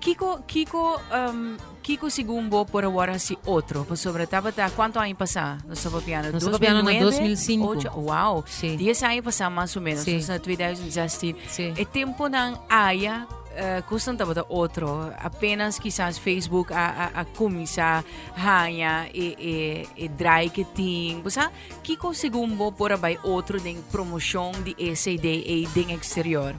Kiko kiko um kiko segun bo por a wòrdu hasi otro? Pasobra tabata kuantu aña pasá nos a papia na Nos a papia na 2009, 2005. ocho, wow, Sí. 10 aña pasá mas o menos, Sí. nos na 2016. Sí. E temponan aya eh, kosnan tabata otro. Apenas kisas Facebook a a a kuminsá haña e e e draai ke tin. Bo sa, Kiko segun bo por a bai otro den promoshon di e CD ei den eksterior?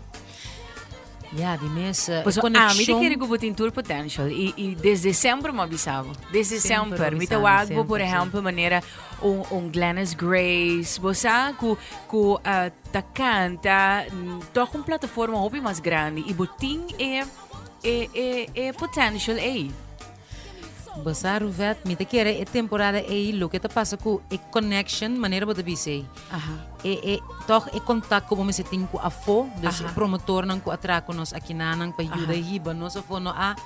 Ya, di mes eh, Paso ami ta konekshon kere ku bo tin tur potential i, i desde semper mi a bisa bo. Desde Semper semper. bo Mi ta bisa mi, wak bo, por semper, sí. ehempel, manera un, un Glennis Grace. Bo sa ku, ku ah, ta kanta mm, tòg un plataforma hopi mas grandi i bo tin e, e, e, e potential ei. Basa Ruvet, mi ta kere e temporada ei loke ta pasa ku e connection, manera bo ta bisa ei. Aha. E, e, toch e contact ku bo mester tin ku afo, dus Aha. e promotornan ku a traha ku nos akinanan pa yuda Aha. hiba nos afo, no a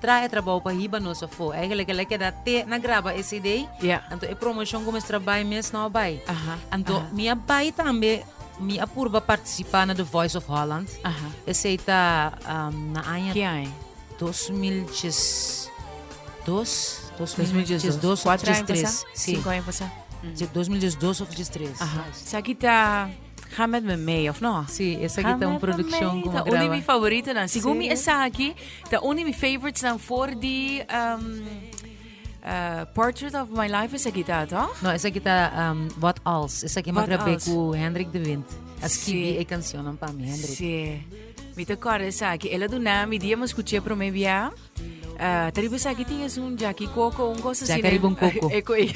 traha e trabou pa hiba nos afo. Eigenlijk el a keda te na graba e cd, Ya. anto e promoshon ku mester a bai mes no a bai. Aha, Anto aha. mi a bai tambe, mi a purba partisipa na The Voice of Holland, Aha. esei ta am, na aña Ki ai? Dos mil djes dos, dos mil djes dos òf djes tres, si. Sinku aña pasá. Dos mil djes dos òf djes tres. Aha. Esaki ta Ga Met Me Mee, òf nò? Si, esaki ta un produkshon ku mi graba. Ta un di mi favoritonan. Segun mi esaki ta un di mi favoritsnan for di Portrait of My Life esaki ta, tòg? No, esaki ta Wat Als. Esaki mi grab'é ku Hendrik de Wint. A skibi e kanshonnan pa mi, Hendrik. Si. Mi ta corda esaki. Ela duna mi dia mos scuché promé bia. Uh, ta riba esaki tin es un jaki coco, un cosa así. Jaka riba un coco. Eco e.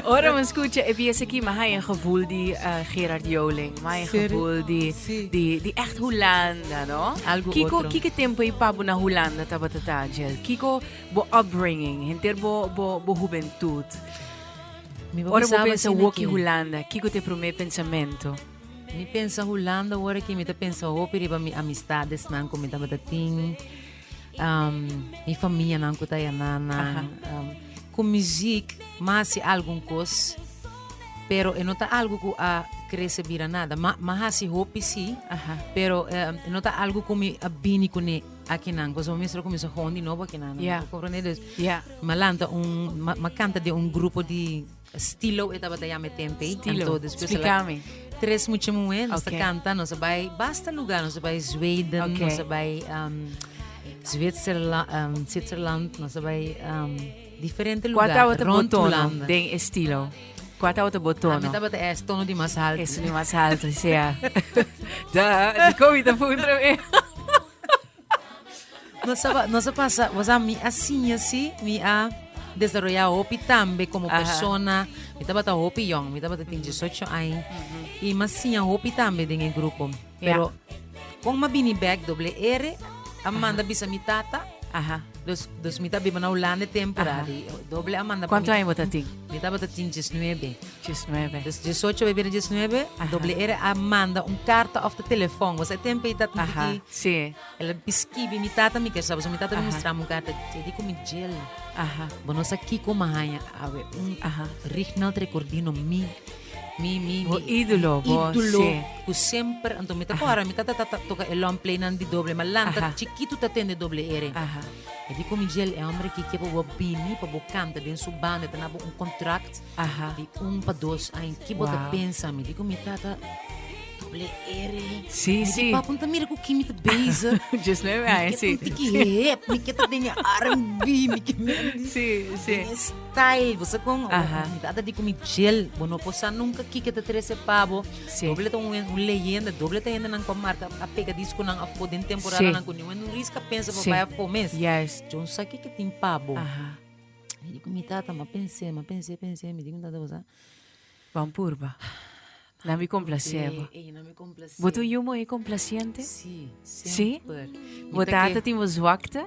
Ora mos scuché e bia esaki, ma hai een gevoel di uh, Gerard Joling. Ma hai een Serio? gevoel di, Sí. di, di echt Hulanda, no? Algo Kiko, otro. kiko tempo i pa bo na Hulanda taba tata, Jill? Kiko bo upbringing, henter bo, bo, bo juventud? Ora bo pensa Woki Hulanda, kiko ta e promé pensamentu? Mi pensa Hulanda ora ki mi ta pensa hopi riba mi amistadesnan ku mi tabata tin, mi famianan ku ta ayana nan. Ku muzik mi hasi algun kos, pero e no ta algu ku a krese bira nada. Mi a hasi hopi sí, pero no ta algu ku mi a bini kuné. Akinan, koso bo mester kuminsá hon di nobo akinan, no? Yeah. Comprende? Dus, Yeah. ma lanta un, ma, ma kanta di un grupo di Stilo, e tabata yame tempe. Stilo. Anto, despues a la- Splikami. tres mucha muhe, nos Okay. ta kanta, nos a bai basta lugar, nos a bai Zweden, Okay. nos a bai um, Zwitserla, um, Zwitserland, nos a bai um, Diferente lugar Kua tabata bo tono den e stilo? Kua tabata bo tono? Ami tabata es tono di mas haltu. Es di mas haltu, sea. da, di komi ta puntra mi. no saba, no se pasa, o sea, mi a siña si, mi a desarrolla hopi tambe como Aha. persona. Mi tabata hopi young, mi tabata tin 18 años. Y mas siña hopi tambe den e grupo. Pero con ma bini bek doble R a manda bisa mi tata. Aha. Dus, dus mi ta biba na Holanda tempora Aha. di doble a manda Cuánto año bota tin? Mi tabata tin 19. 19. Dus 18 we bira 19, Aha. doble R a manda un carta of ta telefoon. Wasa e tempo ei tata Aha. di Sí. el skibi mi tata mi ker saba. So mi tata Aha. mustrami un carta e di ku mi jel. Aha. Bo no sa kiko mi haña awe un Aha. Rignald Recordino mi. Mi mi mi. Bo ídolo, bo, ídolo sí. ku semper anto mi ta kora mi ta ta ta ta toka e long play nan di doble ma lanta Aha. chikitu ta tende doble ere. Aha. E di ku mi djel e hombre ki ke pa bo bini pa bo kanta den su banda e ta na bo un kontrakt Aha. di un pa dos aña ki bo ta Wow. pensa mi di ku mi tata doble ere Sí, mi sí. di papu mi ta mira ku ki mi ta bezig Just nueve mi años, ke sí. un tiki hep mi ke ta den e R&B mi ke mi Sí, sí. den e Kyle, bo sa con oportunidad di cumi djel, bo no por sa nunca kico ta trece pa bo. Doble ta un leyenda, doble ta hendenan cu a marca a pegadis cu nan afo den temporadanan cu niwen un risk a pensa pa bay afo mes. Djo no sa kico tin pa bo. Mi di cu mi tata, ma pense, ma pense, pense, mi di cu mi tata, bo sa. Ban purba. Nan mi complacé bo. Bo ta un yu muhé complaciente? Sí? Bo ta ata tin bo zwakte?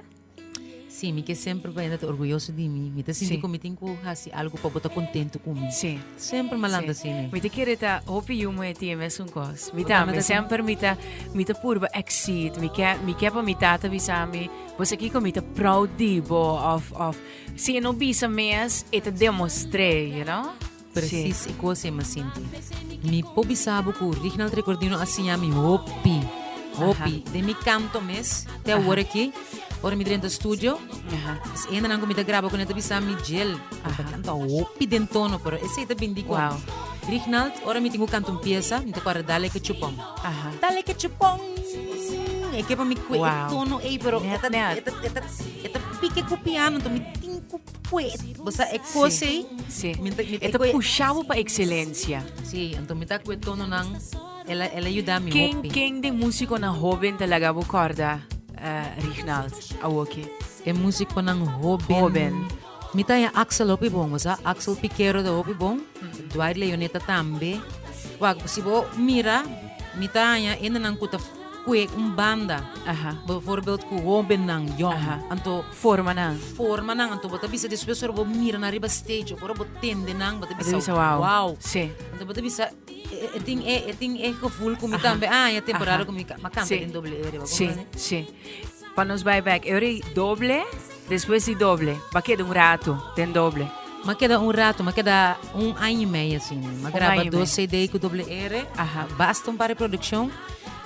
Sí, mi ke semper pa hende ta orguyoso di mi. Mi ta sinti ku mi tin ku hasi algu pa bo ta kontentu ku mi. Semper malanta así ne. Mi ta kere ta hopi yu muhé tin e mesun kos. Mi tambe, semper mi ta mi ta purba exceed. Mi ke mi ke pa mi tata bisa mi, Bo sa kiko? Mi ta proud di bo of of si e no bisa mes e ta demostr'é, you know. Presis e cos e m'a sinti. Mi por bisa bo cu Rignald Recordino a siña mi hopi, hopi. Den mi canto mes, te awor aki, ora mi drenta studio, es hendenan cu mi ta graba cu nan ta bisa mi, Jel, bo ta canta hopi den tono, pero esey ta bindi cu Rignald, ora mi tin cu canta un piesa, mi ta cuadra Dale Cachupon, Dale Cachupon, e ke pa mi cu e tono ey, pero e ta, e ta, e ta pique cu piano, mi tin cu. Pues, bo sa e cosa ei? Sí. Mi ta- mi ta E ta koe- pusha bo pa excelencia. Sí, entonces mi ta koe tono nan, el a, el a yuda mi Ken, hopi. ken den musiconan hoben ta laga bo corda, eh, Rignald, awoki? E musiconan hoben. Hoben. Mi ta haña Axel hopi bon, bo sa, Axel Piquero ta hopi bon, Dwight Leoneta tambe. Wak, si bo mira, mi ta haña hendenan cu ta koe un banda. Aha. Bijvoorbeeld cu hobennan, jong. Aha. Anto formanan. Formanan, anto bo ta bisa despues ora bo mira nan riba stage of ora bo tende nan bo ta bisa wow. Anto bo ta bisa e tin e e tin e gevoel ku mi tambe a haña temporada ku mi ma kanta den doble e riba kompran e? Pa nos bai back, e ora di doble, despues di doble ma keda un rato den doble. Ma keda un rato, ma keda un aña i medio asina. Ma graba dos cd ku doble e, basta un par di produccion.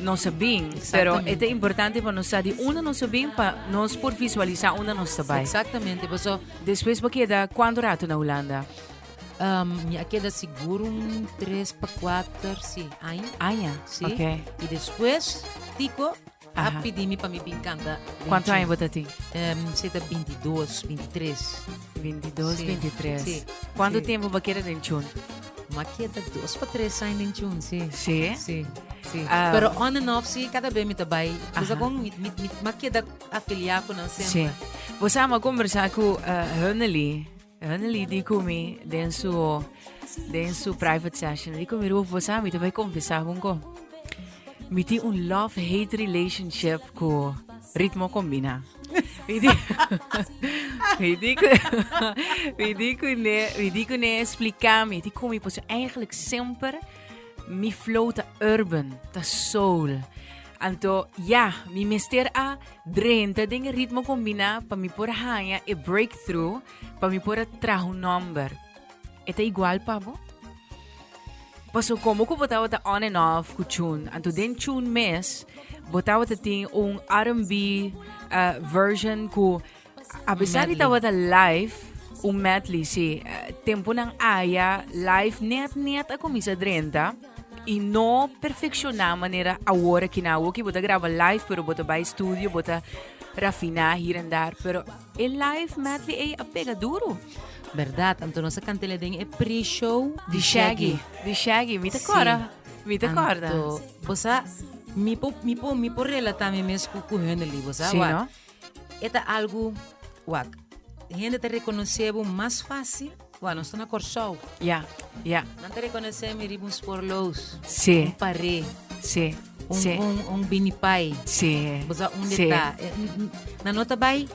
nos a bin. Pero e ta importante pa nos sa di unda nos a bin pa nos por visualisa unda nos ta bai. Exactamente, paso. Despues bo keda cuanto rato na Hulanda? Um, mi a keda seguro un tres pa cuatro, si, aña. Aña, si. Okay. Y despues, tico, a pidi mi pa mi bin canta. Cuanto aña bo ta tin? Um, se ta 22, 23. Veintidos, Sí, veintitres. sí, Cuánto sí. tiempo va quedar den chun? Makia ta dos pa tres años en chun, sí. Sí. Sí, sí. Ah. Pero on and off, sí, cada vez me te bai. Pues Ajá. con mi, mi, mi, makia da afiliar con nan Sí. siempre. Vos sabes, conversar con uh, Hunnely. Hunnely di con mi den su, den su private session. Di con mi, Ruf, vos sabes, mi te voy a confesar con co. Mi tiene un love-hate relationship con ritmo combina. Vidikune explica mi, di como pues eigenlijk semper mi flow ta urban, ta soul. Anto ja, mi mester a drenta den e ritmo combina pa mi por haya e breakthrough, pa mi por traha un number. e ta igual pa bo? Paso como cu botaba ta on and off cu tune. Anto den tune mes, botaba ta tin un R&B uh, eh, version cu a pesar de taba ta live, un medley, sí. Uh, tempo nan aya live net net a comienza drenta y no perfecciona manera ahora que na que bota graba live pero bota by studio, bota rafina hier en daar, pero E live medley ey a pega duro. Berdad, anto nos a cantele den e pre-show di Shaggy. Di Shaggy, mi te corda. Mi te corda. Anto, bosa, mi po, mi po, mi po relata mi mes cu, cu Hunderly, bosa, sí, no? Eta algo, wak, gente te reconoce bo mas fácil Wou, nos ta na Kòrsou. Ya, ya. Nan ta rekonosé mi riba un sporlous. Sí. Un paré. Sí, sí. Un, un, un binipai. Sí. Bosa un sí. deta. Nan no ta bai.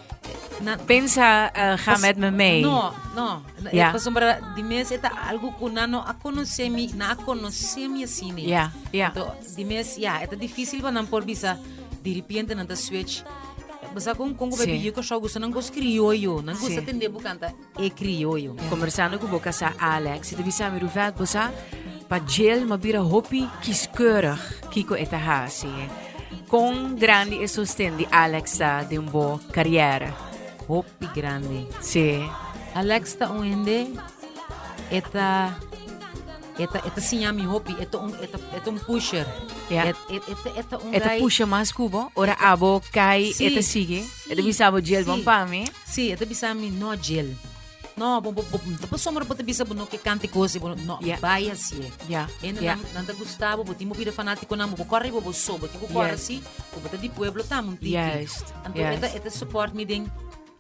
Na, Pensa uh, ga pas, met me mee. No, no. Ja. Pas sombra di mes eta algo ku nan no a konosé mi, na a konosé mi asini. Ja, ja. To, di mes ja, eta difícil pa nan por bisa di repente nan ta switch. Bosa kon kon ko sí. bebi yo ko shou gusto nan gos criollo, nan gusto sí. tende bu canta. E Crioyo. Conversando cu bo casá Alex, e ta bisa mi, Ruvet, bo sa, pa Jill m'a bira hopi kiskeurig kico e ta haci. Con grandi e sosten di Alex ta den bo cariera? Hopi grandi. Sí. Alex ta un hende, e ta. E ta e ta siña mi hopi, e ta un e ta e ta un pusher. Ja. E, e, e, ta- e ta un E ta guy- pusha mas kubo, ora abo kai, Sí, e ta sige. sí, E ta bisa abo jail sí. bon pa mi. Sí, e ta bisa mi no jail. No, bo, bo, bo, bo sombra bo te bisa bo no ke kanti kosi, bo no, no, Ja. bai así. Ja, En ja. nan, nan ta gustabo, bo timo pide fanático nan, bo corre bo bo so, bo tipo corre Yes. así, bo ta di pueblo tam un tiki. Juist, Anto juist. eta eta support mi den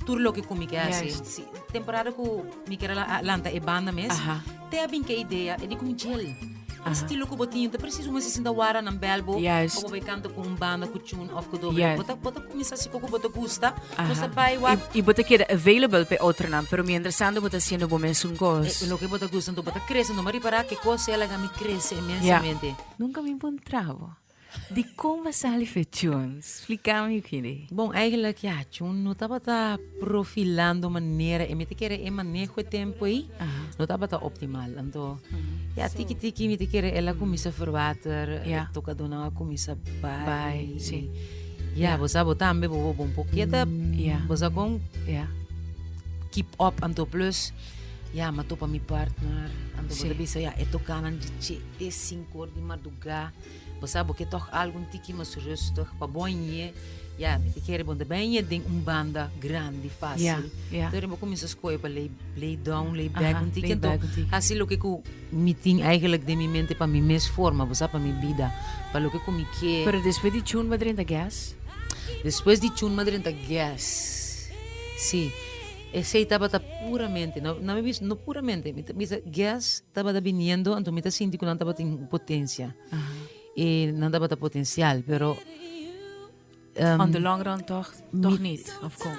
tur loke ku mi ke hasi. Si, temporada ku mi ker a lanta e banda mes, te a bin ku e idea di ku mi djel. E stilo ku bo tin ta presiso un sesenta wara nan bèl bo pa bo bai kanta ku un banda ku chun òf ku doble. Bo ta, bo ta kuminsá si kiko bo ta gusta, nos ta bai wak. I bo ta keda available pa e otronan, pero mientras tanto bo ta hasiendo bo mesun kos. E loke bo ta gusta, enton bo ta krese. Bo a ripará ke kos siña laga mi krese inmensamente. Nunka mi puntrá bo. Dikon bo a sali fechon? Spliká mi bini. Bon, eigenlijk ya, chun, no tabata profilando manera, e mi ta kere e maneho e tempo ei no tabata optimal. Anto, ya tiki tiki mi ta kere el a kuminsá ferbater, tokadonan a kuminsá bai, ya bo sa bo tambe bo wou bon por keda, bo sa kon keep up, anto plus ya m'a topa mi partner, anto bo ta bisa ya e tokanan di chee, sinku or di madrugá. Bo sa bo ke tok algo un tiki mas rustig pa bo ñe ya mi ta kere bo ta bay ñe den un banda grandi facil entonces bo cuminsa scoge pa lay lay down lay back un tiki enton haci loke cu mi tin eigenlijk den mi mente pa mi mes forma bo sa pa mi bida pa loke cu mi kier pero despues di chun madrina guest despues di chun madrina guest si Esey tabata puramente, no, nan mi bisa, no puramente, mi ta bisa guest tabata biniendo, anto mi ta sinti cu nan tabatin potencia. E nan tabata potencial, pero. On the long run toch, toch niet, of con?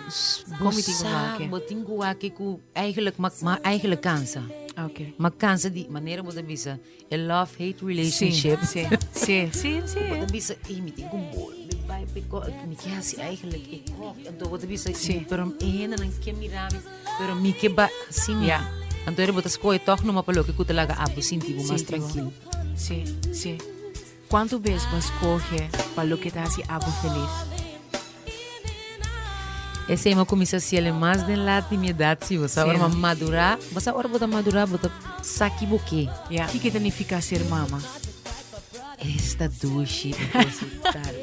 Con mi tin cu make? Bo tin cu wak cu eigenlijk, ma, ma eigenlijk cansa. Okay. Ma cansa di manera bo ta bisa. E love hate relationship. Sí, sí, sí, sí. Bo ta bisa, e mi tin con bol, mi bai pe ko, mi ke hasi eigenlijk e ko. Anto bo ta bisa, sí. pero e hende nan ke mira mi, pero mi ke bai hasi mi. Yeah. Anto ere bo ta skohe tog numa pa loke ku ta laga abo sinti bo mas tranquilo. Sí, sí. Cuantu bes bo a scoge pa loke ta haci abo feliz? Esey mi a cuminsa ciele mas den laat di mi edad si bo sa ora mi a madura, bo sa ora bo ta madura bo ta sa ki bo ke. Ya, kiko ta nifica ser mama? Es ta dushi di depositar.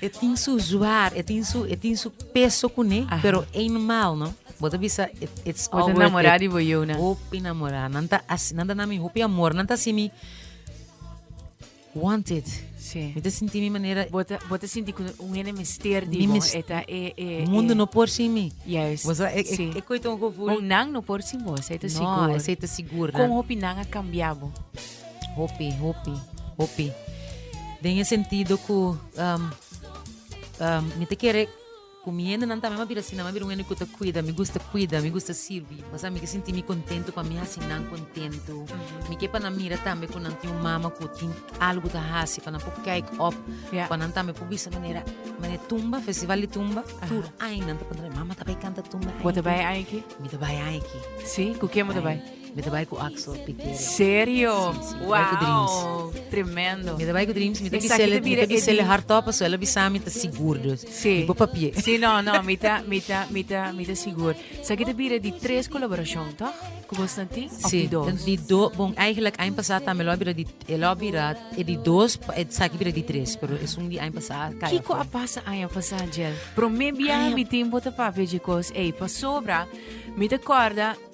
E tin su zwaar, e tin su peso cune, pero ey normal no. Bo ta bisa it it's all worth it. Bo ta namorá di bo yona. Hopi namorá. Nan ta así, nan ta na mi hopi amor. Nan ta hasi mi wanted. Sí. Mi ta sinti mi manera. Bo ta, bo ta sinti ku un hende mester di bo. E ta e, e, e. Mundu no por sin mi. Juist. Bo sa, e, e, sí. e koi ta un gevoel. Un nan no por sin bo, esei ta no, sigur. No, esei ta sigur. Kon hopi nan a kambia bo? Hopi, hopi, hopi. Den e sentido ku um, um, mi ta kere Ku mi hendenan tambe m'a bira asina. M'a bira un hende ku ta kuida. Mi gusta kuida, mi gusta sirbi. Pasobra mi ke sinti mi kontentu pa mi hasi nan kontentu. Mi ke pa nan mira tambe ku nan tin un mama ku tin algu ta hasi pa nan por kijk op, pa nan tambe por bisa manera manera tumba, festival di tumba. Tur aña nan ta pregunta, mama ta bai kanta tumba aki? Mi ta bai aki. Sí? Ku ken bo ta bai? Me ta bai ku Axel Piquero. Serio? Wow, tremendo. Me ta bai ku Dreams, me ta bisele, me ta bisele hardtop, so ela bisa mi ta sigur dus. Sí. Mi papie. Sí, no, no, mi ta, mi ta, mi ta, mi ta sigur. Sa ki ta bira di tres kolaborashon, toch? Ku bos na tin? Of di dos? Sí, di dos. Bon, eigenlijk, aña pasá tambe lo a bira di, e lo a bira e di dos, e sa ki bira di tres, pero e sun di aña pasá kaya. Kiko a pasa aña pasá, Jel? Promé biaha mi tin bo ta papia dje kos ei, pasobra mi ta kòrda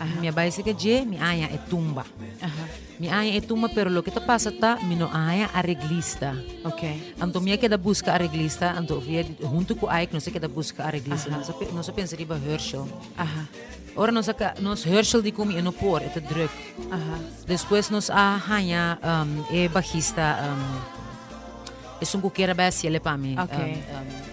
Ahe mi a bai seke dje mi aña e tumba. Aha. Mi aña e tumba pero loke ta pasa ta mi no a haña areglista. Okay. Anto mi a keda buska areglista, anto via hunto ku Ike nos a keda buska areglista. Nos a, nos a pensa riba Herschel. Aha. Ora nos a nos Herschel di kumi e no por, e te druk. Aha. Despues nos a haña um, e bajista um, e sunku kera bai a siele pa mi. Okay. Um, um,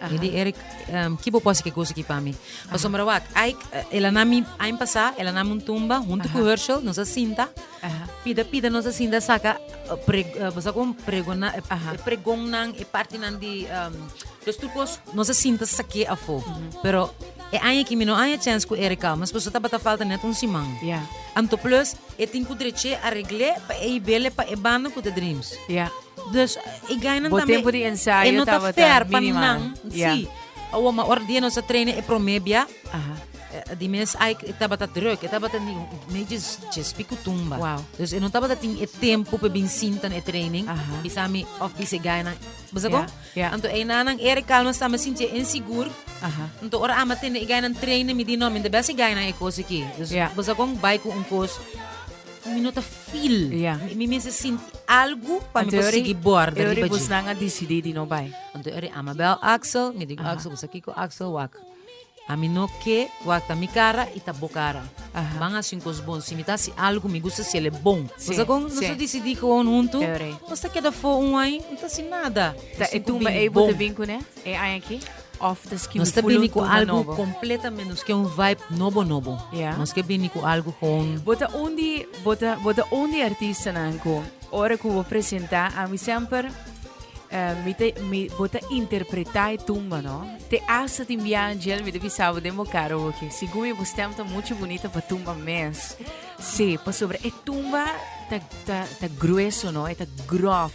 Aha. Edi Eric, um, ki bo posi ke gozo ki pa mi? Pasombra wak, Ike, eh, ela na mi, ain pasa, ela na mun tumba, hunto ku Herschel, nos a sinta, Aha. pida pida nos a sinta saka, eh, pre, eh, bosa kon pregona, eh, Aha. eh, pregon nan, e parti nan di, um, los trucos, nos a sinta sake afo. Pero, e aña ki mi no aña chance ku Eric Almas, paso tabata falta net un siman. Ja. Anto plus, e tin ku dreche a regle pa e i bele pa e banda ku ta Dreams. Ja. Dus e gainan tambe. Bo tempo di ensayo tabata minimal. Ya. Si. Awor, ma ora dia nos a traina e prome bia, di mes ai e tabata druk, e tabata di mes djes, djes pico tumba. Wow. Dus e no tabata tin e tempo pa bin sinta na e training, bisa mi of bisa e gainan. Bo sa ko? Ya, ya. Anto einanan Eric Calmes tambe sinti e insigur, anto ora ama tende e gainan trainen, mi di no, mi ta bes e gainan e kos aki. Dus, bo sa kon? Bai ku un kos. Mi no ta feel. Ya. Mi mester sinti algu pa mi por sigui borda riba dje. Busnan a decidi di no bai. Anto eri ama bel Axel, mi dico, Axel, cu sa kico Axel wak? Ami no ke wak, ta mi cara y ta bo cara. Ban haci un cos bon. Si mi ta haci algo, mi gusta haci el e bon. Sí, Cosa con nos sí. a decidi gewoon hunto, Teore. nos ta keda fo un ai, no ta haci nada. Ta e Sin cu tumba bin ei bo te bon. bin cune? E ai aki? Nos ta bini ku algu kompletamente nos ke un vibe nobo nobo. Nos ke bini ku algu gewoon. Bo ta un di bo ta bo ta un di artistanan ku ora ku bo presentá ami semper mi ta mi bo ta interpretá e tumba no. Te asta tin biaha djel mi ta bisa bo den bo karo bo ke sigun mi bo stèm ta muchu bunita pa tumba mes. Sí, pasobra e tumba ta, ta, ta grueso, no? E ta grof.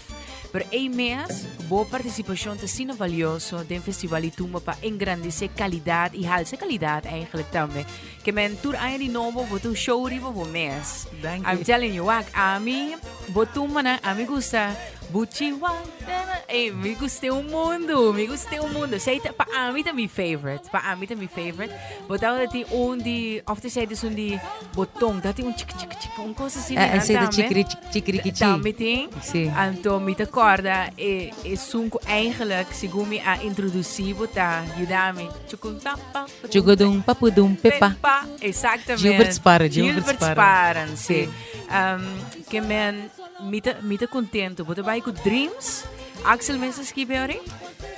Pero ei mes, bo participacion ta sina valioso den Festival di Tumba pa engrandece calidad y halse calidad eigenlijk tambe. Que men tur aña di nobo bo ta un show riba bo mes. Dank u. I'm telling you, wak, ami, bo tumbanan, ami gusta Buchi Wang, nana, ey, mi gust'e un mundo, mi gust'e un mundo. Esei ta, pa ami ta mi favorite, pa ami ta mi favorite. Bo ta ora tin un di, of te sei dus un di botón, ta tin un chic chic chic, un cosa así. Eh, ese de chikri chikri kichi. También tin. Sí. Anto mi te corda e e sunku eigenlijk según mi a introducí bota yudami. Chukun pa pa. Chukudum papudum pepa. Pepa, exactamente. Gilbert Spara, Gilbert Spara. Gilbert Spara, sí. Um, que men, mi te, mi te contento. Bota bai ku dreams. Axel Mester Skibiori?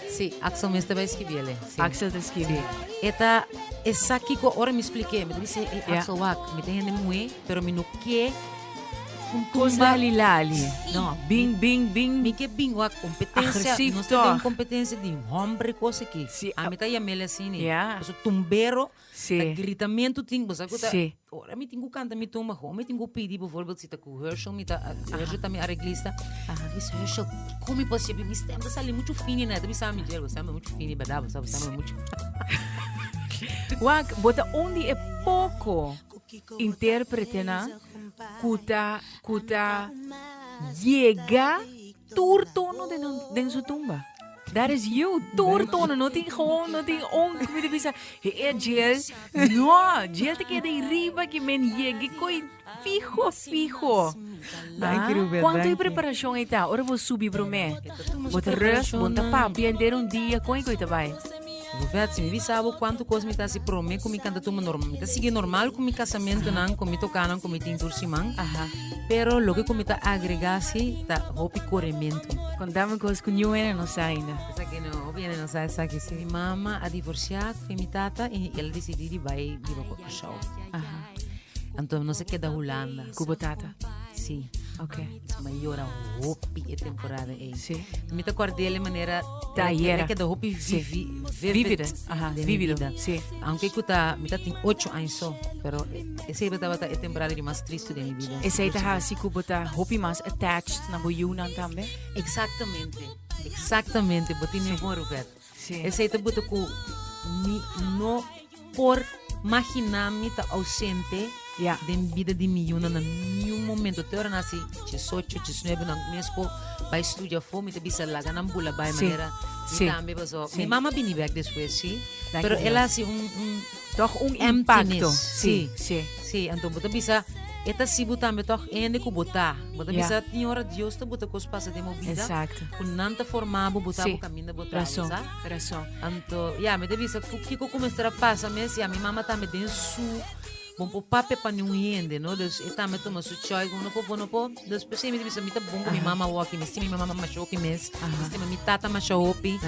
Sí, Axel Mester bai Skibiori. Axel ta skibi, E ta esaki ku ora mi splik'é, mi ta di se, Ey, Axel, wak, mi ta hende muhé, pero mi no ke un kos lali lali. No, bin, bin, bin. Mi ke bin, wak, kompetensia, nos ta den kompetensia di hombre kos aki. Ami ta yam'é la asina, pasobra tumbero. Sí. Ta gritamentu tin, bo sa ku ta, ora mi tin ku kanta mi tumba, hou mi tin ku pidi, por ejemplo si ta ku Hershel mi ta, Hershel ta mi areglista, mi si Hershel, kon mi por sibi mi stèm ta sali muchu fini nè, ta bisa ami, Jerry, bo stèm muchu fini, bèrdad? Bo sa bo stèm muchu Wak, bo ta un di e poko intèrpretenan ku ta, ku ta yega. tur tono den nan den su tumba. That is you. Tur tono. No tin gewoon, no tin un. Mi te bisa, he e jail. No, jail te keda i riba ki men yega i koi fiho, fiho. Dank u, Rubia, Cuanto i dank u. preparashon ei ta? Ora bo subi promé, bo ta rus, bo ta pampi enter un dia, kon i koi ta bai? Gouvert si mi bisa bo cuanto cos mi ta haci prome cu mi canta tuma normal mi ta sigui normal cu mi casamentonan cu mi tocanan cu mi tin tur siman aha pero loke cu mi ta agrega si ta hopi coremento. Contame cos cu New Ene no sa ainda. Esaki no, hopi ene no sa esaki si. Mi mama a divorcia cu mi tata y el decidi di bay biba cu Curaçao. Aha. Anto nos a keda Hulanda. Cu bo tata? Si. Ok. M'a yora hopi e temporada ei. Sí. Mi ta acorda el e manera Trayera. que da hopi Sí. vivi, Vívida. Ajá, den mi vívido. vida. Sí. Aunque cu ta, mi ta tin 8 años so, pero ese iba tabata e temporada di mas triste den mi vida. Esa ita ha así como ta hopi más attached na boyunan también. Exactamente, exactamente, bo tin Sí. mi bon Robert. Sí. Esei ta buta ku mi no por magina mi ta ausente yeah. den bida di mi yuna na niun momento. Te ora nasi chisocho, chisnuebe, nan mesco bai studia fo, mi te bisa laga nan bula bai sí. manera. Sí. Mi tambe paso. Sí. Mi mama bini bek despues, sí. Dank Pero ela si un, un Tòg un impakto. Sí, sí. Sí, anto bo ta bisa, e ta si bo tambe tòg hende ku bo ta. Bo ta bisa tin ora Dios ta bota kos pasa den bo bida ku nan ta forma bo, bo ta bo kaminda bo ta. Rason, rason. Anto, ya, mi ta bisa ku kiko ku mester a pasa mes? Ya, mi mama tambe den su bon por papia pa niun hende, no? Dus e tambe tuma su choice ku no por bo, no por. Dus p'esei mi ta bisa mi ta bon ku mi mama wòkI mi stima mi mama masha hopi mes, mi stima mi tata masha hopi.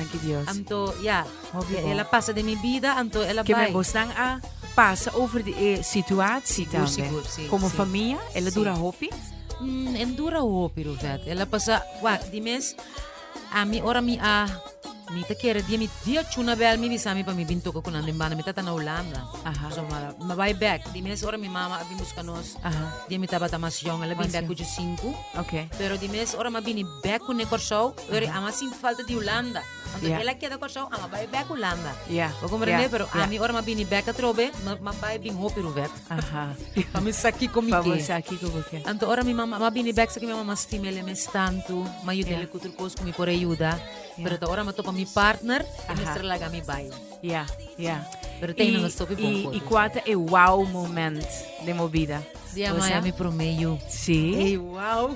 Anto, ya. Obvio el a pasa den mi bida anto el a bai. Keme bosnan a pasa over di e situatie tambe. Sigur sigur si. Como famia el a dura hopi? Mm, en dura hopi Ruvet. El a pasa, wak, di mes, a mi ora mi a, mi ta kere dia mi, dia chuna bel mi bisa mi pa mi bin toka ku nan den banda. Mi tata na Hulanda. Aha. So mi a, mi bai bek. Di mes ora mi mama a bin buska nos, Aha. dia mi tabata mas yòn, el a bin Mas bek yòn. ku djusinku. Ok. Pero di mes ora mi a bini bek kuné Kòrsou, ora i ama sinti falta di Hulanda. Anto Yeah. el a keda Kòrsou, a ma bai bèk Hulanda. Ja, Bo komprendé? ja, Pero ja. ami ora ma bini bèk atrobe, ma, ma bai bin hopi ruwet. Aha. Pa mi sa kiko mi Vamos ke. aquí como que. Anto ora mi mama ma bini bèk sa ki mi mama stima ele mes tantu, ma yuda Ja. ele kutur kos ku mi por ayuda. Ja. Pero ta ora ma topa mi partner, e Aha. mester laga mi bai. Ja, ja. Pero tem na stop e bom y, foto. y cuata e wow moment de movida. Dia Osa? maya mi promé yu. Sí. Ey, wow.